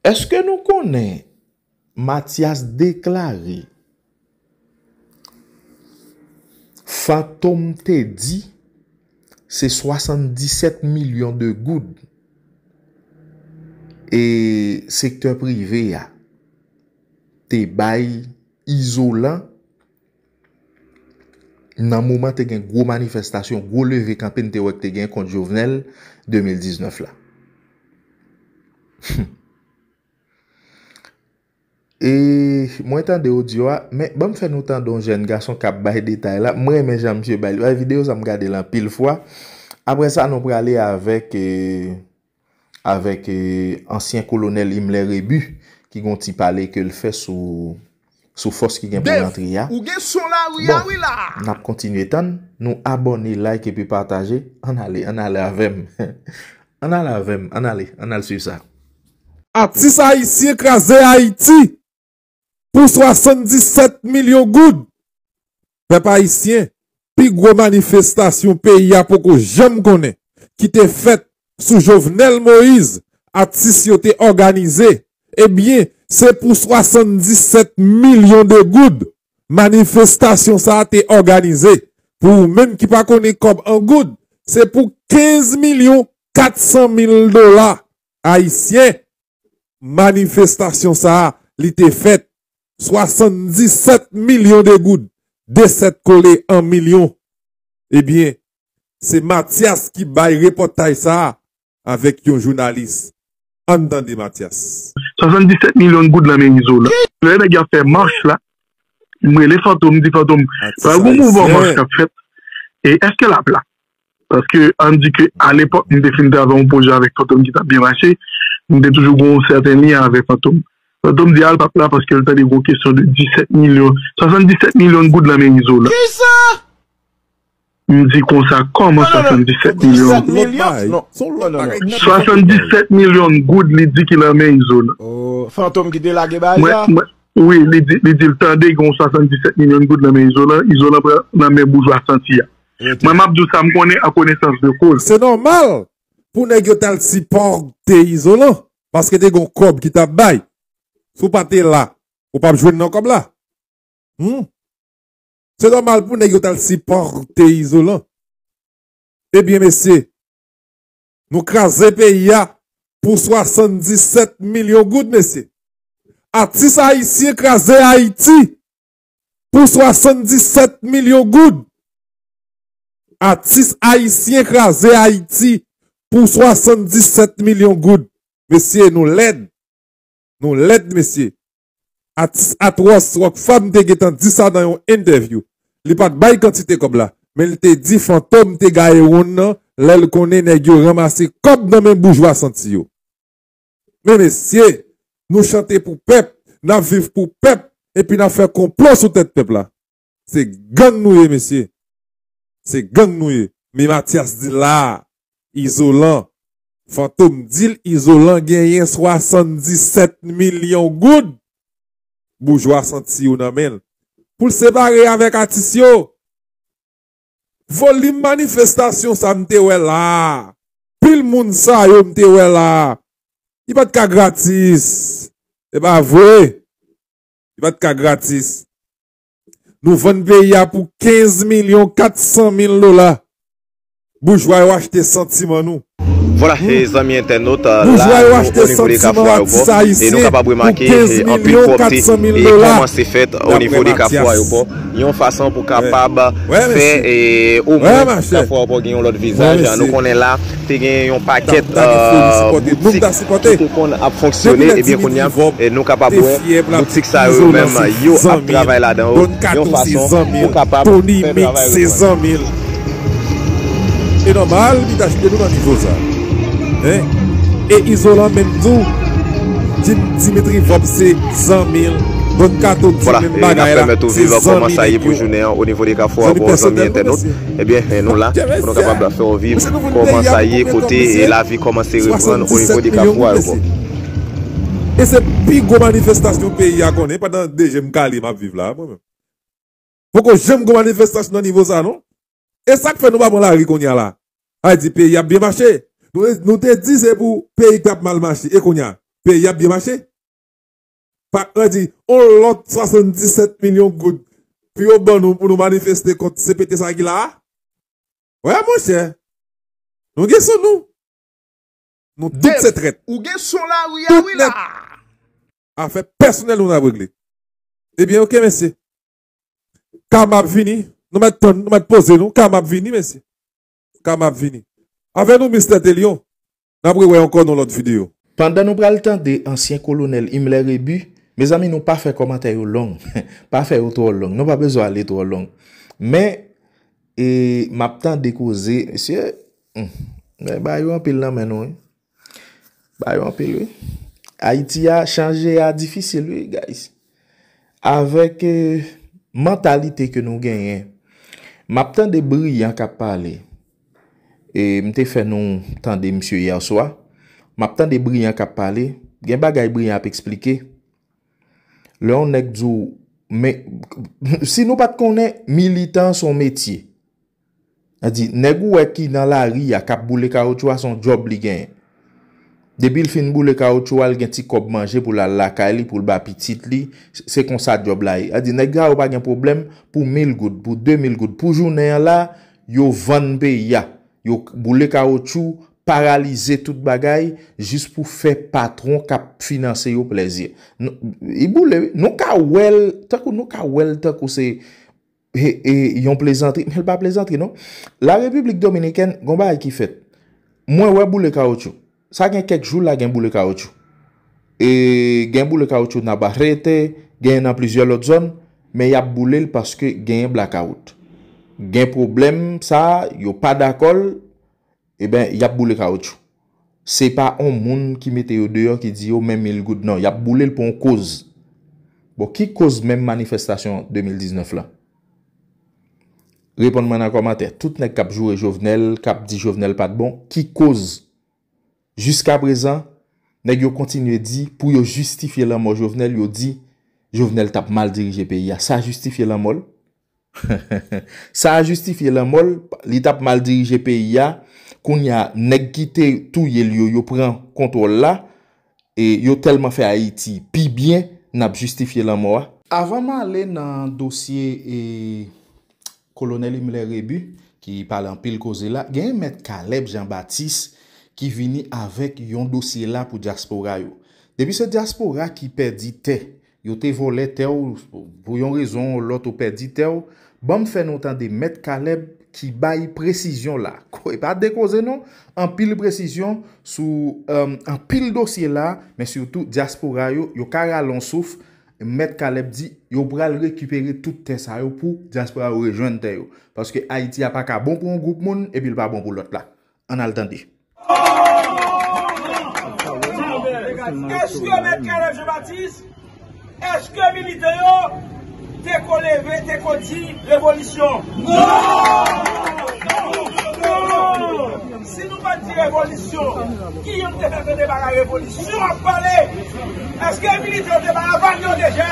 Eske nou konnen Matyas deklare Fantom te di se 77 milyon de goud e sektè prive a te bay Izolan Nan moman te gen gwo manifestasyon, gwo leve kanpe n te wè k te gen kont Jovenel 2019 la. Hum. E mwen tande odyo a, men banm fè nou tande yon jèn gason k ap bay detay la. Mwen renmen jan misye bay li. Bay videyo sa m gade l anpil fwa. Aprè sa nou prale avèk e. avèk ansyen kolonèl Imler Rebu ki gon ti pale ke l fè sou sou fòs ki gen pou rantre a. Bon, n ap kontinye tann nou abòne, like epi pataje. Ann ale, ann ale avè m. Ann ale avè m, ann ale, ann al swiv sa. Atis ayisyen kraze Ayiti! pou 77 milyon goud. Pèp ayisyen, pi gwo manifestasyon peyi a poko janm konnen ki te fèt sou Jovenel Moise atis yo te òganize ebyen se pou 77 milyon de goud manifestasyon sa te òganize. Pou ou menm ki pa konnen kòb an goud, se pou 15 milyon 400 mil dola Ayisyen, manifestasyon sa a li te fèt 77 milyon de goud de 7 kole an milyon ebyen se Matyas ki bay repòtaj sa a avèk yon jounalis ann tande Matyas. 77 milyon goud lan men Izolan. Lè nèg yo ap fè mach la m rele Fantom m di Fantom pa gen yon mouvman mach k ap fèt e èske l ap la Paske an di ke a lepòk mwen te fin travay yon pwojè avèk Fantom ki tap byen mache, mwen te toujou gen yon sèten lyen avèk Fantom. Fantom di al pap la paske l tande gen yon kesyon de 17 milyon, 77 milyon goud nan men Izolan. M di konsa kòman 77 milyon goud? 77 milyon goud li di ki nan men Izolan. Wi, li di l tande gen yon 77 milyon goud nan men Izolan, Izolan pran nan men boujwa santi a. Mwen map di w sa m konnen an konesans de koz. Se nòmal pou nèg yo tal sipòte izolan paske te gon kòb ki tap bay si w pa te la ou pap jwenn nan kòb la humm se nòmal pou nèg yo tal sipòte izolan ebyen mesye nou kraze peyi a pou 77 milyon goud mesye atis ayisyen kraze ayiti pou 77 milyon goud. Atis ayisyen kraze Ayiti pou 77 milyon goud. Mesye nou lèd. Nou lèd mesye. Atis Atròs Rockfam te gentan di sa nan yon entèvyou. Li pat bay kantite kòb la, men li te di Fantom te gaye wonn nan lè l konnen nèg yo ranmase kòb nan men boujwa santi yo. Men mesye, nou chante pou pèp, n ap viv pou pèp epi n ap fè konplo sou tèt pèp la. Se gang nou ye mesye. Se gang nou ye. Men Matyas di l la a, Izolan, Fantom di l Izolan genyen 77 milyon goud boujwa santi yo nan men l pou l separe avèk atis yo. Volim manifestasyon sa m te wè la a, pil moun sa yo m te wè la a, li pa t ka gratis. Se pa vre. Li pa t ka gratis. Nou vann peyi a pou 15 milyon 400 mil dola. Boujwa yo achte santiman nou. Vwala he zanmi entènot, la nou renivele kafou ayopò e nou kapab remake he anpil pwòpte e kòmanse fèt onivo de kafou ayopò yon fason pou kapab fè e omwen kafou ayopò gen yon lòt vizaj nou konnen la te gen yon pakèt boutik ki te konn ap fonksyone ebyen kounya nou kapab wè boutik sa yo yo menm yo ap travay ladan yo yon fason pou kapab fè travay yo. Se nòmal li ta jete nou nan nivo sa. Hein? E izolan menm tou dim Dimitri Vorb se zanmil Don Kato di Voila, menm e nap bagay la pèmèt ou se viv kòman zanmi sa ye nèg pou yo. jounen an o nivo de Kafou Zanmi Abò zanmi pèsonèl nou entènot. mesye. Ebyen nou la Ke pou nou mesye kapab fè w viv Mesye nou vin kòman peyi a sa pou ye konbyen tan kote mesye? lavi kòmanse reprann o nivo 77 de milyon Kafou goud Aebò. mesye. E se pi gwo manifestasyon peyi a konnen pandan 2 je m kale map viv la mwen menm. Poko janm gen manifestasyon nan nivo sa non. E sak fè nou pa pran lari kounya la? Ay di peyi ap byen mache. Nou te di se pou peyi tap mal mache e kounya? Peyi ap byen mache? Pak lan di on lòt 77 milyon goud pou yo ban nou pou nou manifeste kont CPT sa ki la a? Wè monchè. Nou gen sou nou. Nou tout se trèt. Ou gen son lari a wi la. Afè pèsonèl nou nap regle. Ebyen ok mesye. Karma ap vini. Nou mèt tann nou mèt poze nou. Karma ap vini mesye. Karma ap vini. Avè nou Mister Telion. Nap re wè ankò nan lòt video. Pandan nou pral tande ansyen kolonèl Himmler Rebu, mezanmi nou pa fè kòmantè yo long, pa fè yo twò long, nou pa bezwen ale twò long. Men, e, m ap tande koze, mesye, Humm men bayo anpil nan men nou wi bayo anpil wi ayiti a chanje a difisil wi guys avèk mantalite ke nou genyen map tande briyan kap pale e mte fè nou tande misye yèswa map tande briyan kap pale gen bagay briyan ap esplike lè yon nèg diw men si nou pat konnen militan son metye Sa di, nèg ou wè ki nan lari a k ap boule kawotchou a se yon djòb li genyen. Depi l fin boule kawotchou a, l gen ti kòb manje pou l al lakay li, pou l ba pitit li, se konsa djòb la ye. Sa di, nèg sa yo pa gen pwoblèm pou mil goud, pou de mil goud, pou jounen an la, yo vann peyi a, yo boule kawotchou, paralize tout bagay, jis pou fè patwon k ap finanse yo plèzi. Li boule wi. Nou ka wè l tankou, nou ka wè l tankou se He e yon plezantri men l pa plezantri non. La Repiblik Dominikèn gon bagay ki fèt. Mwen wè boule kawotchou. Sa gen kèk jou la gen boule kawotchou. E gen boule kawotchou Nabarrete, genyen nan plizyè lòt zòn. Men y ap boule l paske genyen blakawout. Gen pwoblèm sa a, yo pa dakò l. Eben yap boule kaoutchou. Se pa on moun ki mete yo deyò ki di yo men mil goud non yap boulel pou on koz. Bon ki koz menm manifestasyon 2019 lan? Reponn mwen nan kòmantè. Tout nèg kap joure Jovenel, kap di Jovenel pat bon, ki koz? Jiska prezan nèg yo kontinye di pou yo jistifye lanmò Jovenel yo di Jovenel tap mal dirije peyi a. Sa jistifye lanmòl? Sa a jistifye lanmò l, li tap mal dirije peyi a, kounye a nèg ki te touye l yo, yo pran kontwòl la, yo tèlman fè Ayiti pi byen nap jistifye lanmò a. Avan m ale nan dosye Kolonèl Imler Rebu ki pale anpil koze la, genyen Mèt Caleb Jean Baptiste ki vini avèk yon dosye la pou dyaspora yo. Depi se dyaspora ki pèdi tè Yo te volè tè w pou yon rezon ou lòt ou pèdi tè w, ban m fè nou tande mèt Caleb ki bay presizyon la, e pa de koze non, anpil presizyon sou anpil dosye la, men sitou dyaspora yo, yo ka rale yon souf, mèt Caleb di yo pral rekipere tout tè sa yo pou dyaspora yo rejwenn tè yo, paske Ayiti a pa ka bon pou yon gwoup moun epi l pa bon pou lòt la. Ann al tande. Eske mèt Caleb Jean Baptiste, eske militè yo te ko leve, te ko di revolisyon? Si nou pa t di revolisyon, ki yo te fè tande bagay revolisyon ap pale? Eske militè yo te bay aval yo deja?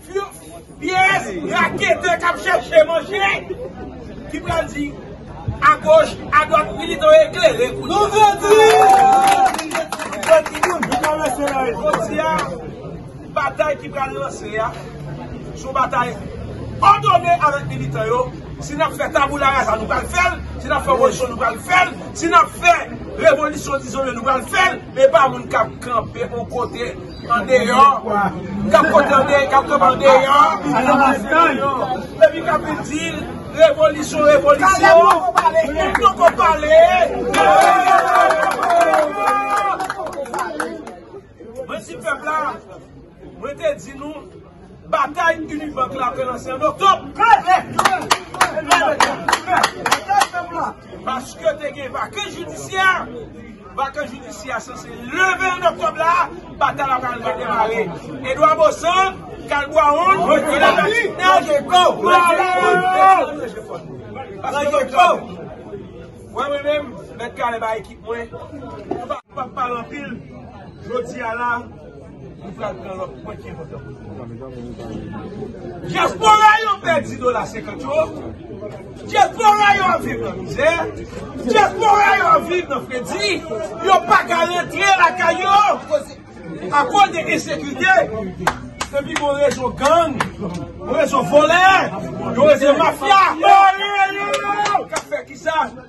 Pyès raketè k ap chèche manje ki pral di agoch adwat wi li dwe eklere kou Nou grandi Jodi a batay ki pral lanse a se yon batay òdone avèk militan yo Si n ap fè taboularaza nou pral fè l Si n ap fè opozisyon nou pral fè l Si n ap fè revolisyon dizole nou pral fè l E pa moun k ap kanpe yon kote Andeyò, kap kote andeyò, kap kote andeyò, epi kap vin di revolisyon, revolisyon, moun poko pale, mwen di pèp la, mwen te di nou. Batay Unibank la pral lanse an Oktòb. Paske te gen vakans jidisyè, vakans jidisyè a sanse leve an Oktòb la, batay la pral redemare. Edwa Bosan, Kal Bwawon, Tonè Latinèj, Bwawon! Wè mwen menm, Mèt Kale bay ekip mwen, nou pa pale anpil, jodi a la. Dyaspora yo pèdi dola senkant yo, dyaspora yo ap viv nan mizè, dyaspora yo ap viv nan fredi, yo pa ka rantre lakay yo akoz de ensekite, depi bon rezo gang, rezo volè, rezo mafya.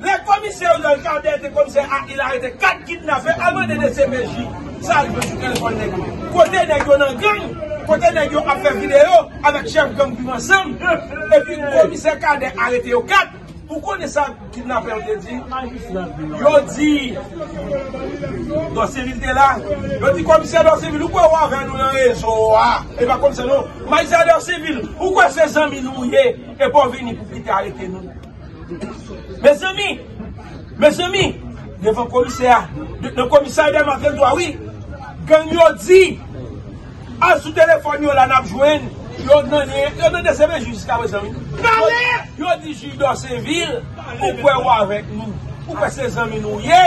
Lè komisè Oriol Cadet te komisè a il arete 4 kidnapè al mande dcpj sa yo sou telefòn nèg yo. Kote nèg yo nan gang, kote nèg yo ap fè video avèk chèf gang viv ansanm epi komisè Cadet arete yo 4. Ou konnen sa kidnapè yo te di? Yo di Dorcevil te la, yo di komisè Dorcevil ou kwè ou avè nou nan rezo a? E pa komisè non. Majistra Dorcevil ou kwè se zanmi nou ye? Epa w vini pou kite arete nou. Mezanmi! Mezanmi! Devan komisè a. Nan komisarya Maten Dwa wi. Gang yo di. Al sou telefòn yo la n ap jwenn. Yo nan lyen. Yo nan deseve jij jiska prezan wi. Pale! Yo di jij Dòsevil. Ou kwè ou avèk nou. Ou kwè se zanmi nou ye.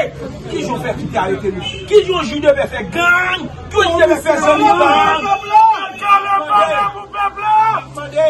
Ki jan w fè kite arete nou. Ki jan jij deve fè gang. Ki jij deve fè zanmi gang. Mande! Mande!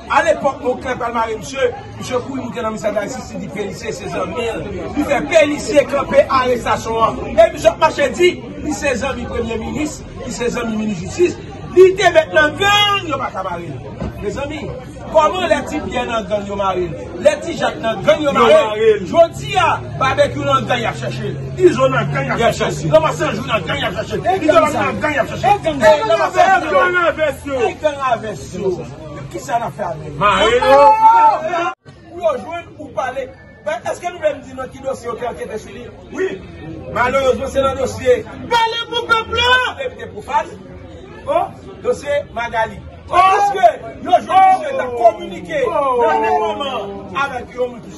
A lepok Moncler pral mare misye, misye kouri moute nan Mister Guy Sisi di Pelicier se zanmi l, li fè Pelicier kanpe arestasyon an e misye ap mache di li se zanmi premye minis, li se zanmi minis jistis, li te met nan gang yo pa ka mare l. Mezanmi, koman lè Ti Pierre nan gang yo mare l, lè Ti Jacques nan gang yo mare l, jodi a Barbecue nan gang y ap chèche l, Izo nan gang y ap chèche l, Lanmas Anjou nan gang y ap chèche l, Izolan nan gang y ap chèche l, e gang a vès yo! Kisa nap fè avèl. Mare yo. Pou yo jwenn ou pale. Mwen eske nou vlem di nan ki dosye yo te ankete sou li? Wi. Malerezman se nan dosye. Pale pou pèp la! Depite Profal. Oh! Dosye Magalie. Oh! Eske yo jwenn misye ta kominike nan menm moman avèk yon moun ki.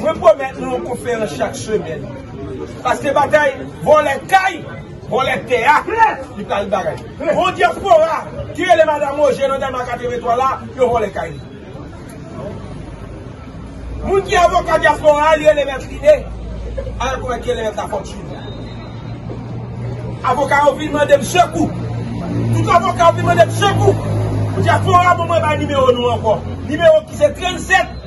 Mwen pwomèt nou yon konferans chak semèn. Paske batay vòlè kay, vòlè tè a, li pral bay. Yon dyaspora ki rele Madam Roger nan Dèlma 83 la, yo vòlè kay li. Moun ki avoka dyaspora a, li rele Mèt Rine, al konn ak Eléas Lafortune. Avoka yo vin mande m sekou. Tout avoka yo vin mande m sekou. Dyaspora ban mwen bay nimewo nou ankò. Nimewo ki se 37.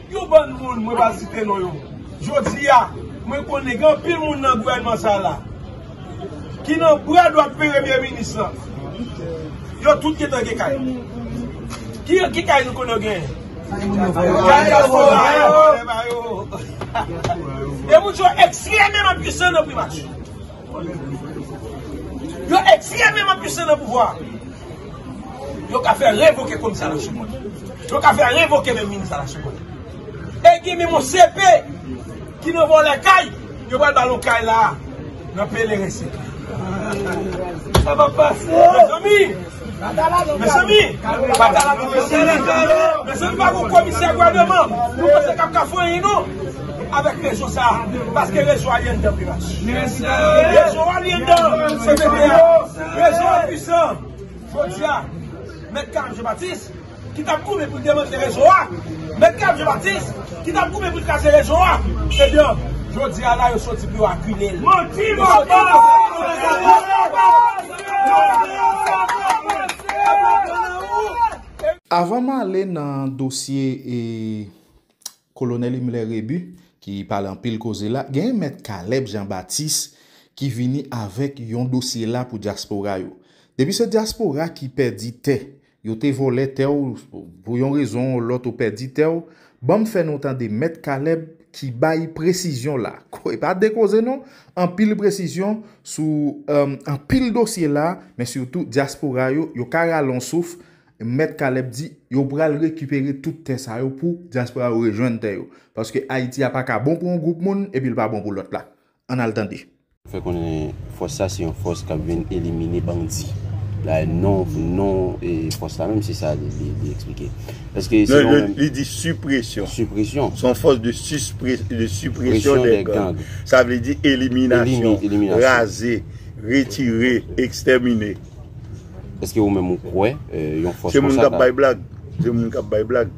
Yon bann moun mwen pa site non yo jodi a mwen konnen gen anpil moun nan gouvènman sa la ki nan bra dwat peremye minis lan yo tout gentan gen kay ki kay nou konnen yo genyen kay diaspora yo e moun sa yo ekstrememan pwisan nan primati. Yo ekstrememan pwisan nan pouvwa a. Yo ka fè revoke komisè a la Chapwòl. Yo ka fè revoke menm minis a la Chapwòl. E gen menm yon CP ki nan vòlè kay, yo pral ba l yon kay la a nan Pelerin 5 la. Sa pa pase! Mezanmi! Mezanmi pa gon komisè gouvernement nou panse kap ka fè anyen non avèk rezo sa paske rezo a li anndan pimas rezo a li anndan cpt a rezo a pwisan jodi a mèt Carl Jean Baptiste ki tap goumen pou demantle rezo a, mèt Gab Jean Baptiste, ki tap goumen pou l kraze rezo a, ebyen, jodi a la yo soti pou yo akile l. Manti papa! Avan m ale nan dosye e. Kolonèl Imlè Rebu, ki pale anpil koze la, genyen Mèt Kalèb Jan Batis ki vini avèk yon dosye la pou dyaspora yo. Depi se dyaspora ki pèdi tè, yo te vòlè tè w, pou yon rezon ou lòt ou pèdi tè w, ban m fè nou tande Mèt Kalèb ki bay presizyon la, e pa de koze non, anpil presizyon sou anpil dosye la, men sitou dyaspora yo, yo ka rale yon souf Mèt Caleb di yo pral rekipere tout tè sa yo pou dyaspora yo rejwenn tè yo. Paske Ayiti a pa ka bon pou yon gwoup moun epi l pa bon pou lòt la. Ann al tande. fè konnen fòs sa se yon fòs k ap vin elimine bandi. Dayè non non fòs la menm se sa li eksplike. Paske se yon menm. Li di sipresyon. Sipresyon. Se yon fòs de sipresyon dè gang. Sa vle di eliminasyon. Eliminasyon. Raze, retire, ekstèmine. Eske ou menm ou kwè yon fòs konsa ta. Se moun kap bay blag. Se moun kap bay blag.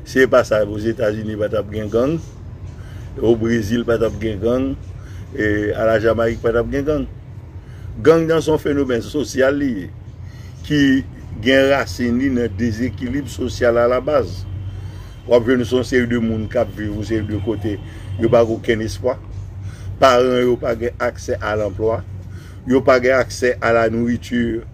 Si e pa sa o Zetazini pa tap gen gang. O Brezil pa tap gen gang. E a la Jamayik pa tap gen gang. Gang nan son fenomèn sosyal li ye. Ki gen rasin li nan dezekilib sosyal a la baz. Wap jwenn son seri de moun kap viv yon seri de kote. Yo pa gen okenn espwa. Paran yo pa gen aksè a lanplwa. Yo pa gen aksè a la nourriture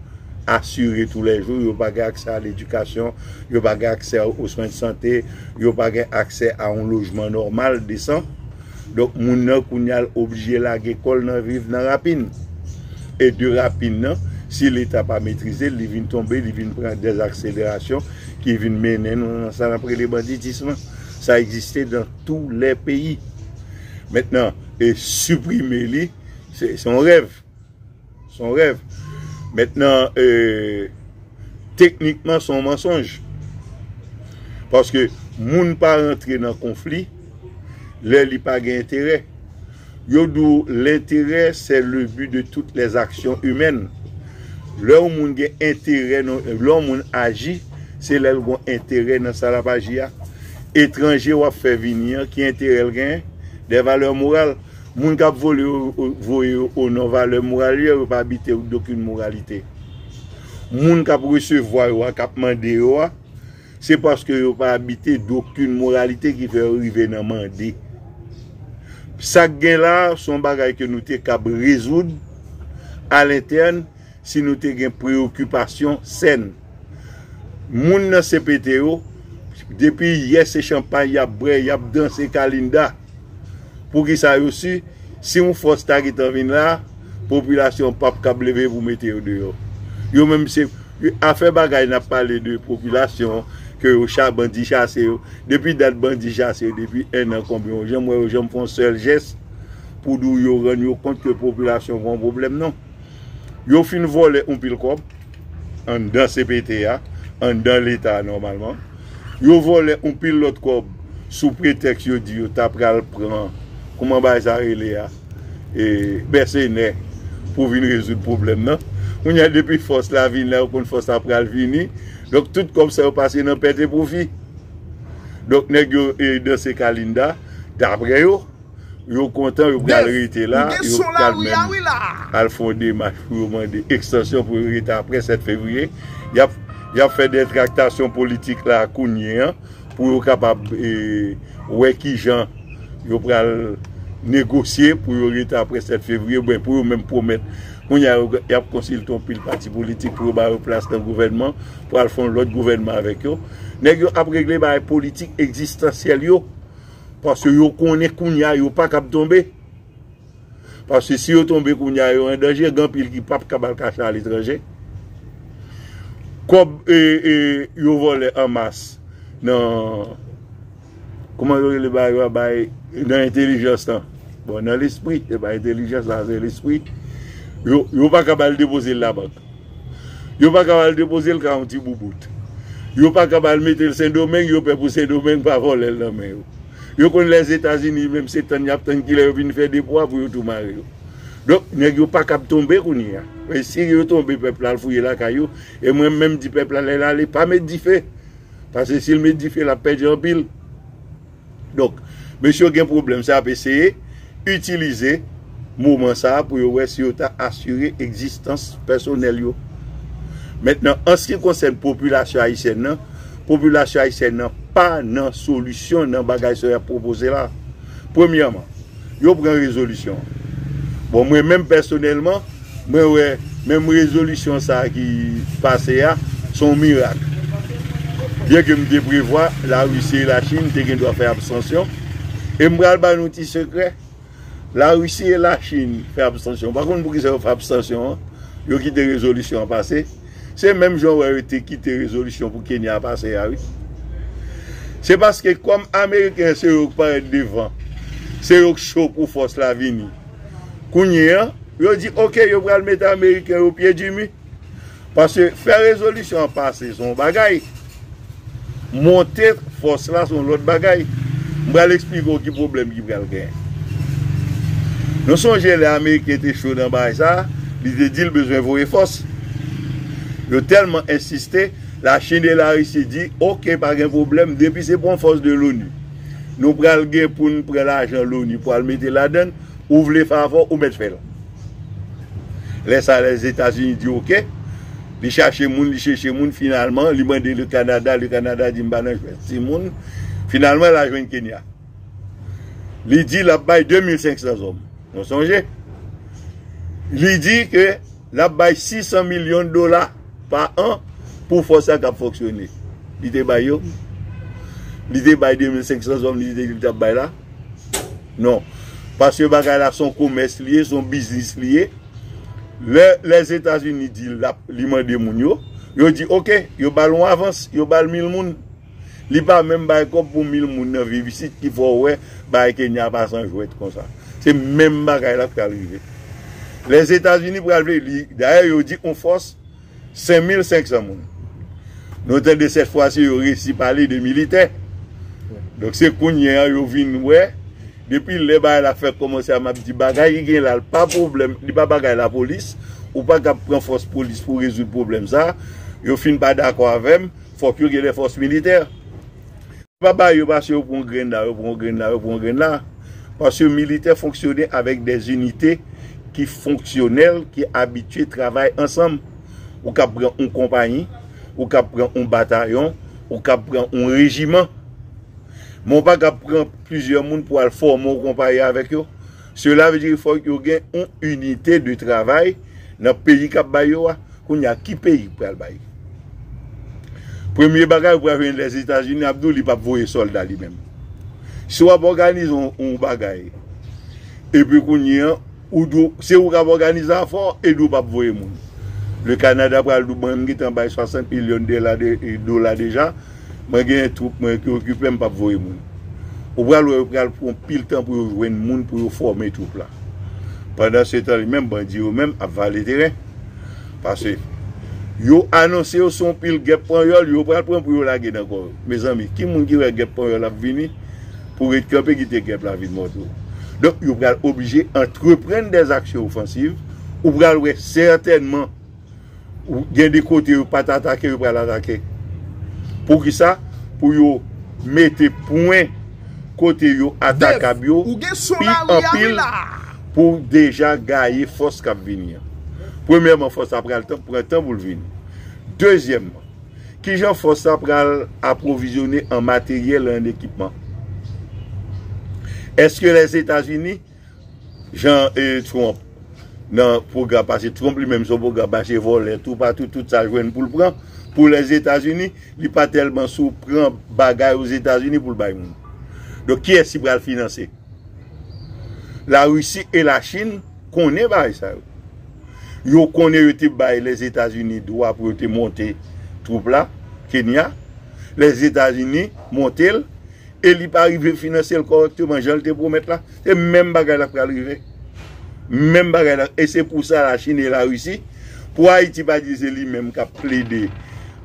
assurée tous les jours, yo pa gen aksè a l'éducation, yo pa gen aksè aux soins de santé, yo pa gen aksè a yon lojman nòmal, desan. Donk moun nan kounye a l oblije lage kò l nan viv nan rapin. E de rapin nan, si leta pa metrize l, li vin tonbe, li vin pran des accélérations ki vin mennen nou nan sa n ap rele banditisme lan. Sa egziste dans tous les pays. Mentnan, e siprime li. Se yon rèv. Se yon rèv. Mètnan, teknikman se yon mansonj. Paske moun pa rantre nan konfli lè li pa gen enterè. Yo di w lenterè sè le bi de tout lè zaksyon imèn. Lè yon moun gen enterè, lè yon moun aji, se lè l gen enterè nan sa l ap aji a. Etranje w ap fè vini an, ki enterè l genyen? Dè valè moral. Moun kap vole yo voye yo o non valè moral yo yo pa bite ou dokin moralite. Moun kap resevwa yo a kap mande yo a se paske yo pa bite dokin moralite ki fè yo rive nan mande. Sak gen la a son bagay ke nou te kab rezoud a lentèn. Si nou te gen preyokipasyon sèn. Moun nan CPT yo, depi yè se chanpay y ap bwè, y ap danse kalinda. Poukisa yo si, si yon fòs ta gentan vin la, popilasyon an pap kab leve pou mete yo deyò. Yo menm se, afè bagay n ap pale de popilasyon, ke yo cha, bandi chase yo. Depi dat bandi chase yo, depi ennan konbyen, ou janm wè yo janm fè yon sèl jès pou di w yo rann yo kont ke popilasyon gen yon pwoblèm non. Yo fin vòlè yon pil kòb anndan CPT a, anndan leta a nòmalman. Yo vòlè yon pil lòt kòb sou pretèks yo di yo ta pral pran, kouman bagay sa rele a, mèsenè pou vin rezoud pwoblèm nan. Kounye a depi fòs la vin la, yo konn fòs la pral vini. Donk tout kòb sa yo pase nan pèt e pwofi. Donk nèg yo e danse kalinda daprè yo. Yo kontan yo pral rete la, yo pral menm al fè yon demach pou yo mande ekstansyon pou yo rete apre 7 fevriye. Y ap fè de traktasyon politik la kounye an pou yo kapab wè ki jan yo pral negosye pou yo rete apre 7 fevriye oubyen pou yo menm pwomèt. Kounye a y ap konsilte yon pil pati politik pou yo ba yo plas nan gouvènman pou al fè yon lòt gouvènman avèk yo. Nèg yo ap regle bagay politik ekzistansyèl yo. Paske yo konnen kounya yo pa kab tonbe. Paske si yo tonbe kounya yo an danje, gen anpil ki pap kab al kache aletranje. Kòb yo vòlè an mas nan, kouman yo rele bagay yo a, bay, nan entelijans lan. Bon, nan lespri, se pa entelijans la, se lespri. Yo pa kab al depoze l labank. Yo pa kab al depoze l ka yon ti boubout. Yo pa kab al mete l Sendomeng, yo pè pou Sendomeng pa vòlè l nan men yo. Yo konn Lèzetazini menm se tann y ap tann kilè yo vin fè depo a pou yo tou mare yo. Donk, nèg yo pa kab tonbe kounye a. Men si yo tonbe pèp la al fouye lakay yo. E mwen menm di pèp la lè l ale pa met dife. Pase si l met dife l ap pèdi anpil. Donk, mesye yo gen pwoblèm sa y ap eseye itilize moman sa a pou yo wè si yo ta asire egzistans pèsonèl yo. Mentnan, an se ki konsèn popilasyon ayisyèn nan, popilasyon ayisyèn nan pa nan solisyon nan bagay sa yo y ap pwopoze la. Premyèman. Yo pran rezolisyon an. Bon mwen menm pèsonèlman, mwen wè menm rezolisyon sa a ki pase a, se yon mirak. Byen ke m te prevwa Larisi e Lachin te gen dwa fè abstansyon, e m pral ba nou ti sekrè, Larisi e Lachin fè abstansyon, pa konn poukisa yo fè abstansyon an, yo kite rezolisyon an pase. Se menm jan w wè yo te kite rezolisyon pou Kenya a pase a wi. Se paske kòm ameriken se yo k parèt devan, se yo k cho pou fòs la vini. Kounye an, yo di ok yo pral mete ameriken yo pye di mi. Paske fè rezolisyon an pase se yon bagay. Monte fòs la se yon lòt bagay. M pral eksplike w ki pwoblèm ki pral genyen. Nou sonje lè ameriken te cho nan bagay sa a, li te di l bezwen voye fòs. Yo tèlman ensiste, Lachin e Larisi di, ok, pa gen pwoblèm, depi se pran fòs de loni, nou pral gen pou n pran lajan loni pou al mete ladann, ou vle favò, ou mèt fè l. Lè sa Lèzetazini di ok, li chache moun, li cheche moun, finalman li mande Le Kanada, Le Kanada di m pa nan jwèt ti moun, finalman la jwenn Kenya. Li di l ap bay 2500 zòm, nou sonje? Li di ke l ap bay 600 milyon dola pa an pou fòs sa kap fonksyone. Li te bay yo? Li te bay 2500 zòm li te di l tap bay la? Non. Paske bagay la son komès li ye, son biznis li ye. Lè Lèzetazini di li mande moun yo, yo di ok, yo ba l yon avans, yo ba l mil moun. Li pa menm bay kòb pou mil moun nan viv isit ki fè w wè bagay Kenya pa san jwèt konsa. Se menm bagay la k pral rive. Lèzetazini pral vle, dayè yo di yon fòs. 5500 moun. Nou tande sèt fwa si yo resi pale de militè. Donk se kounye an yo vin wè, depi lè bagay la fèk kòmanse a m ap di bagay ki gen la l pa pwoblèm, li pa bagay lapolis, ou pa kab pran fòs polis pou rezoud pwoblèm sa a. Yo fin pa dakò avè m, fòk yo gen lè fòs militè. Pa bay yo pase yo pran grenn la yo pran grenn la yo pran grenn la paske militè fonksyone avèk dè inite ki fonksyonèl ki abitye travay ansanm ou kab pran yon konpayi ou kab pran yon batayon ou kab pran yon rejiman men ou pa kab pran plizyè moun pou al fòme yon konpayi avèk yo Sela vle di fòk yo gen yon inite de travay nan peyi kap bay yo a. Kounye a ki peyi ki pral bay? Premye bagay ou pral jwenn Lèzetazini ap di w li pap voye sòlda li menm. Si w ap òganize yon bagay epi kounye a ou di w se ou kap òganize afè w e di w pap voye moun. Le Kanada pral di w bon m gentan bay 60 milyon dola deja. Mwen gen twoup mwen ki okipe m pap voye moun. Ou pral wè yo pral pran pil tan pou yo jwenn moun pou yo fòme twoup la. Pandan se tan li menm bandi yo menm ap vale teren. Pase yo anonse yo son pil gèp panyòl yo pral pran pou yo lage nan kò yo. Mezanmi ki moun ki wè gèp panyòl ap vini pou ret kanpe kite gèp la vin montre w. Donk yo pral oblije antreprann dèzaksyon ofansiv. Ou pral wè sètènman. Gen de kote yo pat atake yo pral atake. Poukisa? Pou yo mete pwen kote yo atakab yo pi anpil pou deja gaye fòs kap vini an. Premyèman fòs la pral pran tan pou l vini. Dezyèmman, kijan fòs la pral apwovizyone an materyèl e an ekipman? Eske Lèzetazini Jan e trump nan program pase trump li menm son program mache volè tou pa tou tout sa jwenn poul pran pou les etats unis li pa telman sou pran bagay ou etats unis poul bay moun donk kiyes ki pral finanse la russi e la chine konnen bagay sa yo yo konnen yo te bay les etats unis dwa pou yo te monte troup la kenya les etats unis montel e li pa rive finanse l kòrèkteman jan l te pwomèt la, se menm bagay la pral rive. Menm bagay la, e se pou sa Lachin e Larisi, pou Ayiti pa di se li menm k ap plede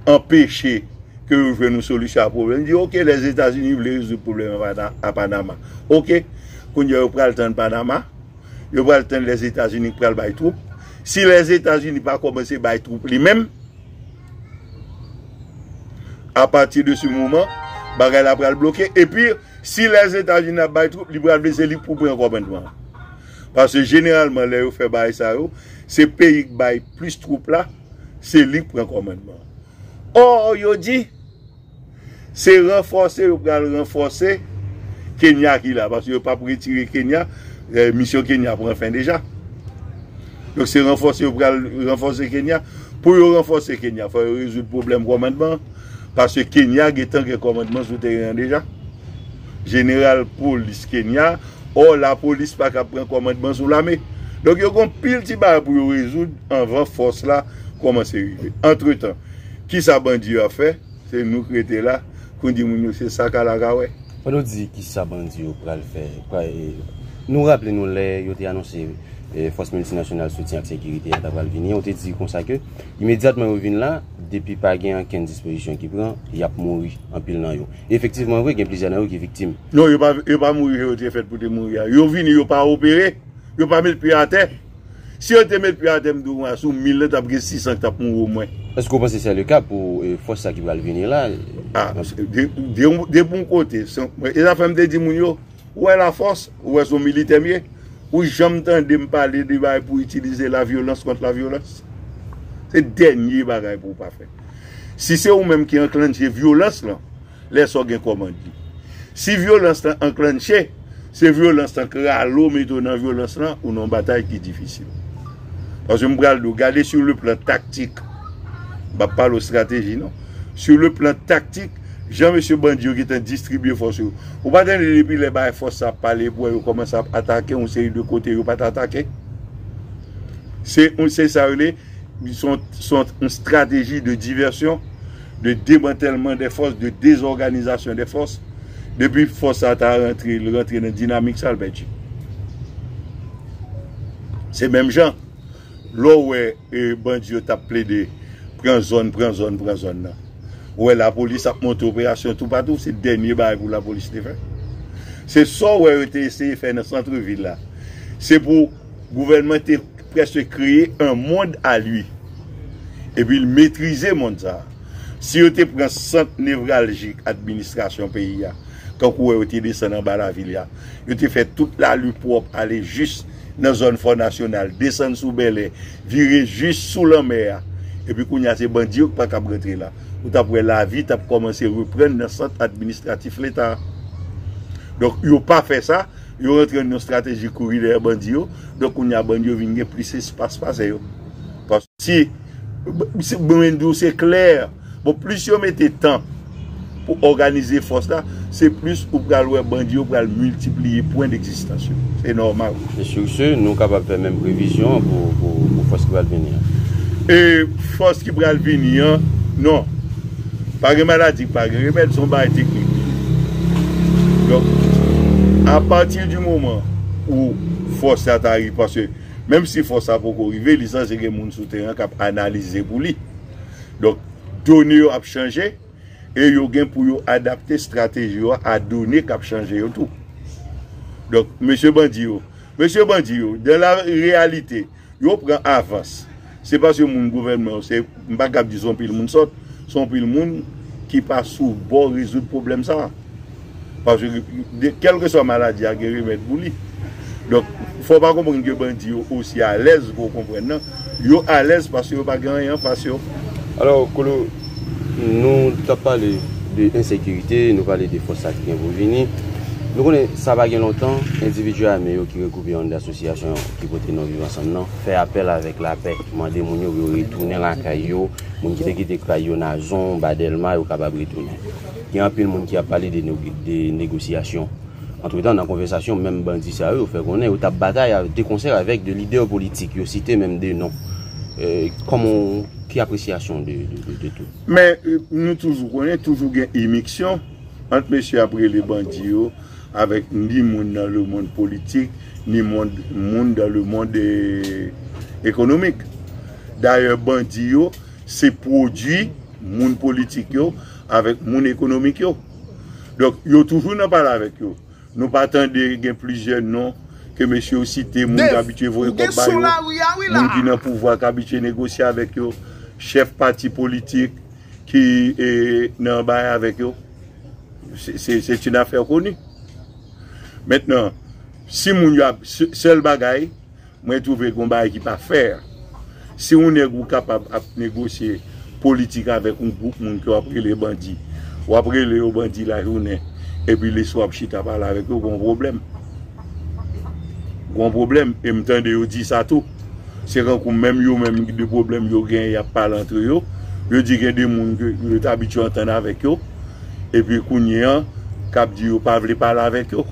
anpeche ke yo jwenn yon solisyon a pwoblèm, di ok Lèzetazini vle rezoud pwoblèm a Panama, ok, kounye a yo pral tann Panama, yo pral tann Lèzetazini k pral bay twoup, si Lèzetazini pa kòmanse bay twoup li menm. A pati de se moman, bagay la pral bloke. E pi, si lè Zeta Zini ap bay twoup, li pral vle se li pou pran kòmandman an. Pase jeneralman lè yo fè bagay sa yo, se peyi k bay plis twoup la, se li k pran kòmandman an. Ò, yo di. Se ranfòse yo pral ranfòse Kenya ki la paske yo pap retire Kenya, misyon Kenya pran fen deja. Donk se ranfòse yo pral ranfòse Kenya. Pou yo ranfòse Kenya fò yo rezoud pwoblèm kòmandman an paske Kenya gentan gen kòmandman sou teren an deja. Jeneral polis Kenya, ò lapolis pa ka pran kòmandman sou lame. Donk yo gon pil ti bagay pou yo rezoud anvan fòs la kòmanse rive. Antretan. Kisa bandi yo ap fè? Se nou k rete la pou n di moun yo se sa k al ak a wè. Fò nou di kisa bandi yo pral fè. Nou raple nou lè yo te anonse fòs miltinasyonal soutyen ak sekirite a ta pral vini, yo te di konsa ke imedyatman yo vin la, depi pa gen ankenn dispozisyon ki pran, y ap mouri anpil nan yo. E efektivman vre, gen plizyè nan yo ki viktim. Non, yo pa mouri jan yo te fèt pou te mouri a. Yo vini, yo pa opere, yo pa met pye atè. Si yo te met pye atè m tou mwa sou 1000 lan tap gen 600 k tap mouri o mwen. Eske w panse se le ka pou fòs sa ki pral vini la? Ah, depi yon kote, e zafè m te di moun yo, ou wè la fòs, ou wè se yon militè m ye, ou janm tande m pale de bagay pou itilize la vyolans kont la vyolans? Se dènye bagay pou w pa fè. Si se ou menm ki anklanje vyolans lan. lè sa w gen kòmand li. Si vyolans lan anklanche, se vyolans lan k rale w mete w nan vyolans lan, ou nan yon batay ki difisil. Paske m pral di w, gade sur le plan tactique, m pa pale w strateji non, sur le plan tactique, jan mesye bandi yo gentan distribye fòs yo, ou pa tande depi lè bagay fòs sa ap pale epi w wè yo kòmanse ap atake yon seri de kote yo pa t atake? Se sa yo rele. Son yon strateji de divèsyon, de demantèlman dè fòs, de dezòganizasyon dè fòs. Depi fòs sa ta rantre, li rantre nan dinamik sa, li pèdi. Se menm jan, lè w wè bandi yo tap plede pran zòn, pran zòn, pran zòn nan. Ou wè lapolis ap monte operasyon toupatou, se dènye bagay pou lapolis te fè. Se sa w wè yo te eseye fè nan santre vil la. Se pou. Gouvènman te prèske kreye un monde à lui epi l metrize mond sa a. Si yo te pran sant nevraljik administrasyon peyi a, tankou wè yo te desann anba lavil ya, yo te fè tout lari pwòp ale jis nan zòn Fò Nasyonal, desann sou Bèlè, vire jis sou lanmè a, epi kounye a se bandi yo ki pa kab rantre la, ou t ap wè lavi t ap kòmanse reprann nan sant administratif Leta a. Donk yo pa fè sa. Yo rantre nan yon strateji kouri dèyè bandi yo. Donk kounye a bandi yo vin gen plis espas pase yo. Si, mwen di w se klè, bon plis yo mete tan pou òganize fòs la, se plis ou pral wè bandi yo pral miltipliye pwen degzistans yo. Se nòmal. E sur ce, nou kapab fè menm previzyon an pou fòs ki pral vini an? E fòs ki pral vini an, non. Pa gen maladi k pa gen remèd, son bagay teknik. Donk, apati di moman ou fòs la ta rive, paske menm si fòs la poko rive, li sanse gen moun sou teren an k ap analize pou li. Donk, done yo ap chanje e yo gen pou yo adapte estrateji yo a done k ap chanje yo tou. Donk, mesye bandi yo, mesye bandi yo, dan la reyalite. Yo pran avans. Se paske moun gouvènman yo se, m pa kab di se yon pil moun sòt, se yon pil moun ki pa sou bò rezoud pwoblèm sa a. Paske kèlkeswa maladi a gen remèd pou li. Donk, fò w pa konprann ke bandi yo osi alèz ke w konprann nan. Yo alèz paske yo pa gen anyen an fas yo. Alò, Colo, nou t ap pale de ensekirite, nou pale de fòs sa ki gen pou vini. Nou konnen sa pa gen lontan endividi ame yo ki regwoupe anndan asosyasyon ki pote non Viv Ansanm nan, fè apèl avèk lapè, mande moun yo pou yo retounen lakay yo, moun ki te kite kay yo Nazon, Ba Dèlma, yo kapab retounen. Gen anpil moun ki ap pale de negosyasyon. Antretan, nan konvèsasyon, menm bandi sa yo fè konnen yo t ap batay dekonsè avèk 2 lidè politik, yo site menm 2 non. Kòman w, ki apresyasyon w de tout? Men, nou toujou konnen, toujou gen imiksyon ant mesye y ap rele bandi yo. avèk ni moun nan le mond politik, ni moun dan le mond ekonomik. Dayè bandi yo, se pwodui moun politik yo avèk moun ekonomik yo. Donk, yo toujou nan pale avèk yo. Nou pa tande gen plizyè non ke mesye yo site, moun ki abitye voye kòb ba yo, moun ki nan pouvwa ki abitye negosye avèk yo, chèf pati politik. ki nan bay avèk yo se une affaire connue mentnan si moun yo ap sèl bagay mwen twouve gon bagay ki pa fè si yon nèg ou kapab ap negosye politik avèk yon gwoup moun ke wap rele bandi wap rele yo bandi lajounen epi leswa wap chita pale avèk yo gon pwoblèm gon pwoblèm e m tande yo di sa tou. Se kankou menm yo menm de pwoblèm yo gen y ap pale antre yo. Yo di gen de moun ke yo te abitye antann avèk yo epi kounye an k ap di yo pa vle pale avèk yo.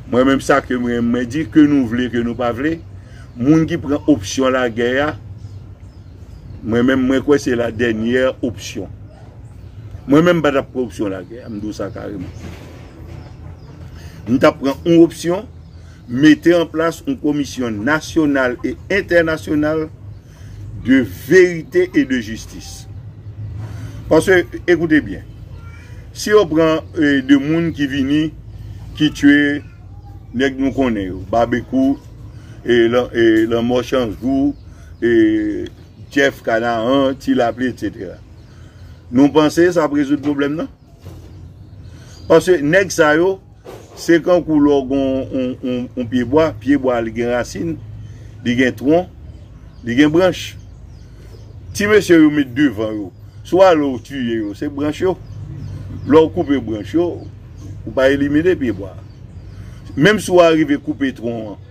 Mwen menm sa ke m renmen mwen di ke nou vle ke nou pa vle moun ki pran opsyon lagè a mwen menm mwen kwè se la dènyè opsyon. Mwen menm m pa t ap pran opsyon lagè a m di w sa kareman. M t ap pran yon opsyon. Mete an plas yon komisyon nasyonal e entènasyonal de verite e de jistis. Paske, ekoute byen, si yo pran 2 moun ki vini, ki tue nèg nou konnen yo, Babekou, Lanmò Chanjou, Jeff Kanaan, Ti Laple, etc. Nou panse sa ap rezoud pwoblèm nan? Paske nèg sa yo, se kankou lè w gen yon pye bwa, pye bwa a li gen rasin, li gen twon, li gen branch. Ti mesye yo met devan yo, si w ale w tiye yo, se branch yo. Lè w koupe branch yo, ou pa elimine pye bwa a. Menm si w arive koupe twon an,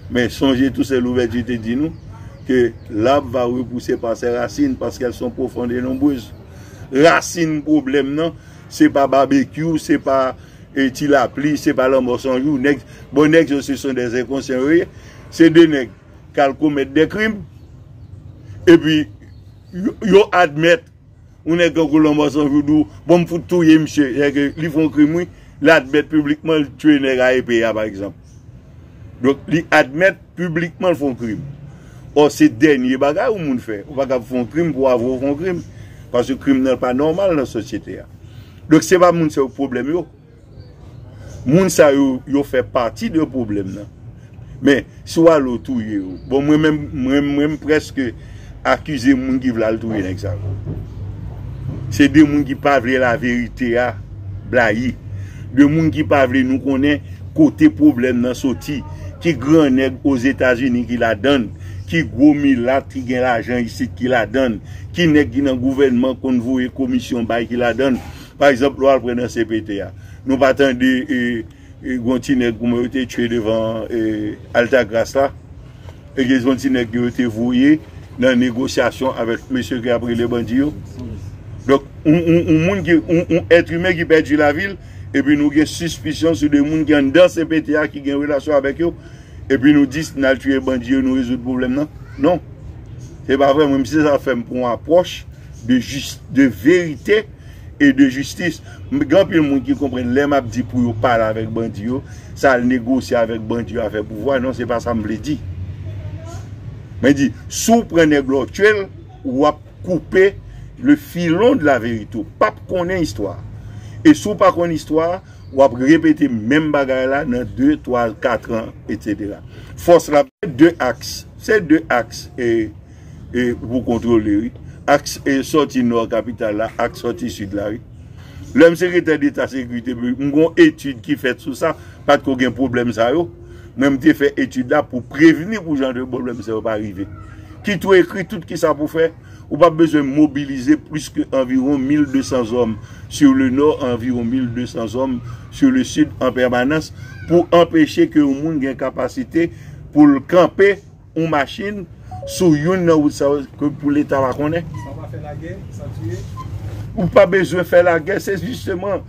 men sonje tou sè Louvèti te di nou, ke l'arbre va repousser par ses racines, paske elles sont profondes et nombreuses. Rasin pwoblèm nan, se pa babekyou, se pa ti lapli, se pa lanmò san jou, nèg, bon nèg yo se son dè enkonsyan yo ye, se de nèg k al komèt dè krim, epi yo admèt, yon nèg tankou lanmò san jou di w, bon m fout touye misye, sèke li fon krim wi, l admèt piblikman l tiye nèg a epe a pa egzanp. Donk li admèt piblikman l fè yon krim. Ò se dènye bagay yon moun fè. Ou pa kab fè yon krim pou w avwe w fè yon krim. Paske krim nan pa nòmal nan sosyete a. Donk se pa moun sa yo pwoblèm yo. Moun sa yo yo fè pati de pwoblèm nan. Men si w ale w touye yo. Bon mwen menm mwen m preske. Akize moun ki vle al touye nèg sa yo. Se 2 moun ki pa vle laverite a blayi. 2 moun ki pa vle nou konnen kote pwoblèm nan soti. Ki gran nèg Ozetazini ki ladann. Ki gwo milat ki gen lajan isit ki ladann. Ki nèg ki nan gouvènman konn voye komisyon bay ki ladann. Pa egzanp lè w al pran nan cpt a. Nou pa tande e. Gon ti nèg pou mwen yo te tchwe devan Altagras la e gen yon ti nèg yo te voye nan negosyasyon avèk mesye ki ap rele bandi yo. Donk, yon moun ki, yon èt imen ki pèdi lavi l, epi nou gen sispisyon sou de moun ki anndan CPT a ki gen relasyon avèk yo, epi nou di si n al tchwe bandi yo nou rezoud pwoblèm nan? Non. Se pa vre, mwen menm se sa fè m pran yon apwòch de jis, de verite. et de justice m gen anpil moun ki konprann lè map di pou yo pale avèk bandi yo se al negosye avèk bandi yo afè pouvwa non se pa sa m vle di mwen di si w pran nèg la w tye l wap koupe le filon de la verite w pap konnen istwa e si w pa konn istwa wap repete menm bagay la nan 2, 3, 4 an etc fòs la. Se 2 aks, se 2 aks e. e pou kontwole wi aks sòti nò kapital la ak sòti sid la wi. Lè m sekretè deta sekirite piblik m gon etid ki fèt sou sa pat ko gen pwoblèm sa yo men m te fè etid la pou prevni pou jan de pwoblèm sa yo pa rive ki tou ekri tout kisa pou fè ou pap bezwen mobilize plis ke anviwon 1200 zòm sur le nò anviwon 1200 zòm sur le sid an pèmanans pou anpeche ke yon moun gen kapasite pou l kanpe. yon machin sou youn nan wout sa yo ke pou leta pa konnen. San pa fè lagè, san tiye. Ou pa bezwen fè lagè, se jisteman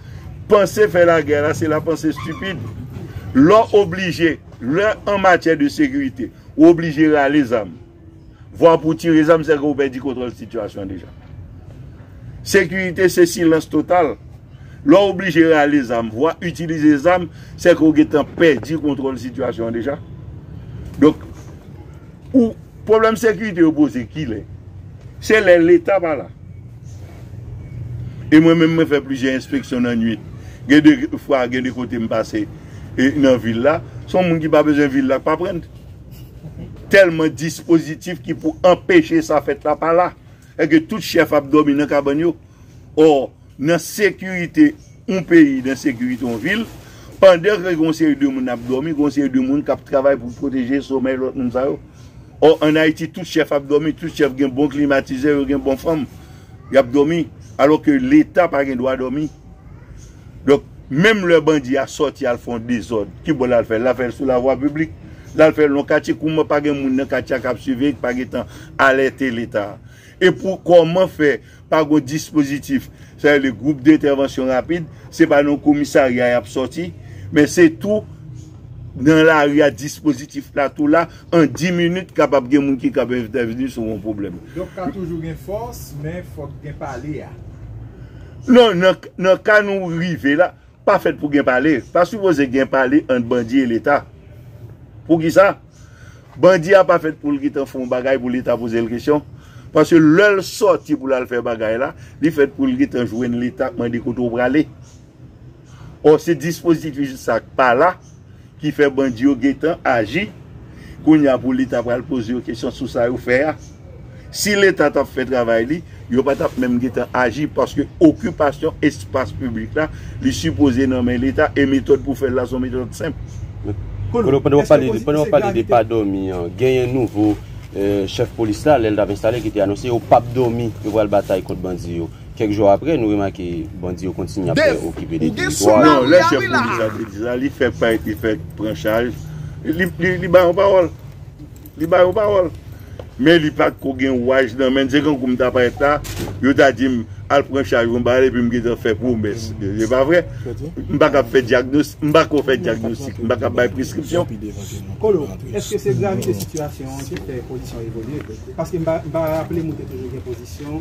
panse fè lagè la se la panse stipid. Lè w oblije, lè an matyè de sekirite, ou oblije rale zam, vwa pou tire zam se ke ou pèdi kontwòl sitiyasyon deja. Sekirite se silans total. Lè w oblije rale zam, vwa itilize zam, se ke w gen tan pèdi kontwòl sitiyasyon an deja. Donk, ou, pwoblèm sekirite yo poze ki lè? Se lè Leta pa la. E mwen menm mwen fè plizyè enspeksyon nan nwit. Gen de fwa, gen de kote m pase e nan vil la, se yon moun ki pa bezwen vil la k pa pran l. Tèlman dispozitif ki pou anpeche sa fèt la pa la. Èske tout chèf ap dòmi nan kabann yo? Or, nan sekirite yon peyi, nan sekirite yon vil, pandan ke gen yon seri de moun ap dòmi, gen yon seri de moun kap travay pou pwoteje somèy lòt moun sa yo. Or, an Ayiti, tout chèf ap dòmi, tout chèf gen bon klimatizè, yo gen bon fanm, yap dòmi. Alò ke Leta pa gen dwa dòmi. Donk, menm lè bandi a sòti al fè yon dezòd, ki bo lal fèl? Lal fèl sou lavwa piblik? Lal fèl nan yon katye? Kouman pa gen moun nan katye a kap siveye, ki pa gen tan alète Leta a? E pou kòman fè? Pa gon dispozitif, sa rele gwoup dentèvansyon rapid, se pa nan komisarya y ap sòti, men se tou nan lari a dispozitif la tou la, an di minit kapab gen moun ki kab entèvni sou yon pwoblèm. Donk ka toujou gen fòs, men fòk gen pale a. Non, nan ka nou rive la, Pa fèt pou gen pale. Pa sipoze gen pale ant bandi e leta. Poukisa? Bandi a pa fèt pou l gentan fè yon bagay pou leta poze l kesyon. Paske lè l sòti pou l al fè bagay la, li fèt pou l gentan jwenn leta ap mande kote w prale. Ò se dispozitif sa k pa la. ki fè bandi yo gentan aji kounye a pou leta pral poze yo kesyon sou sa yo fè a si leta tap fè travay li yo pa tap menm gentan aji paske okipasyon espas piblik la li sipoze nan men leta e metòd pou fèl la son metòd senp. Kolo, pandan wap pale de pa dòmi an, genyen nouvo chèf polis la lèl tap enstale ki te anonse yo pap dòmi yo pral batay kont bandi yo. Kèk jou apre, nou remake bandi yo kontinye ap byen okipe 2 teritwa yo. Non, lè chèf polis la te di sa, li fèk pa li fèk pran chaj, li bay yon pawòl, li bay yon pawòl. Men li pa t ko gen ouraj nan men l, se kankou m ta parèt la, yo ta di m al pran chaj ou anba a epi m gentan fè pwomès, se pa vre? M pa ka fè dyagnos, m pa ko fè dyagnostik, m pa ka bay preskripsyon. Kolo, èske se gravite sitiyasyon an ki fè pozisyon w evolye? Paske m pa raple m ou te toujou gen pozisyon.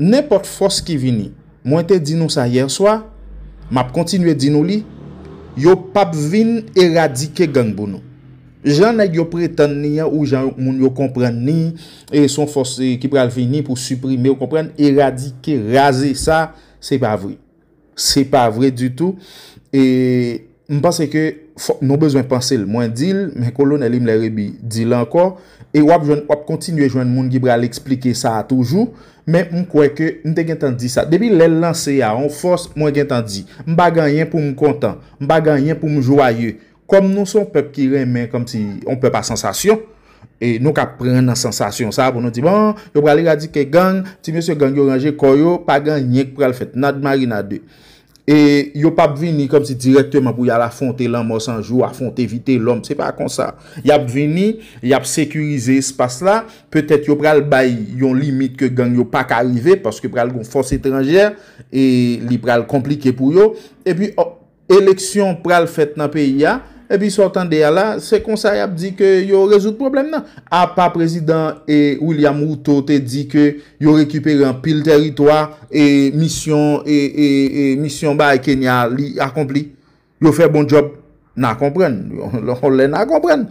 Nenpòt fòs ki vini, mwen te di nou sa yèswa, m ap kontinye di nou li, yo p ap vin eradike gang pou nou. Jan nèg yo pretann ni an ou jan moun yo konprann ni, se yon fòs ki pral vini pou siprime, ou konprann, eradike, raze sa, se pa vre. Se pa vre ditou e m panse ke nou bezwen panse l. Mwen di l, men Kolonèl Imlè Rebi di l ankò e w ap kontinye jwenn moun ki pral eksplike sa a toujou. Men m kwè ke m te gentan di sa. Depi lè l lanse a, yon fòs mwen gentan di. M pa gen anyen pou m kontan. M pa gen anyen pou m jwaye. Kòm nou se yon pèp ki renmen kòmsi yon pèp a sansasyon, e nou ka pran nan sansasyon sa pou nou di bon, yo pral eradike gang, ti mesye gang yo ranje kò yo, pa gen anyen ki pral fèt, nad marinade. E yo p ap vini kòmsi dirèkteman pou y al afwonte lanmò san jou, afwonte Vitelòm, se pa konsa. Y ap vini, y ap sekirize espas la, petèt yo pral bay yon limit ke gang yo pa ka rive paske pral gen yon fòs etranjè e li pral konplike pou yo. Epi, Eleksyon pral fèt nan peyi a, epi sa w tande a la, se konsa y ap di ke yo rezoud pwoblèm nan. Apa prezidan William Ruto te di ke yo rekipere anpil tèritwa, e misyon misyon bay Kenya a li akonpli. Yo fè bon djòb. N a konprann. Yon lè n a konprann.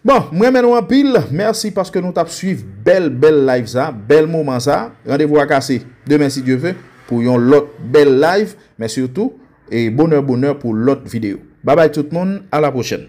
Bon, m renmen nou anpil. Mèsi paske nou t ap suiv bèl bèl live sa, bèl moman sa. Randevou a kase demen si Dye ve pou yon lòt bèl live. Mèsi ou tou, e bonè bonè pou lòt video. Babay tout moun, a la pwochèn.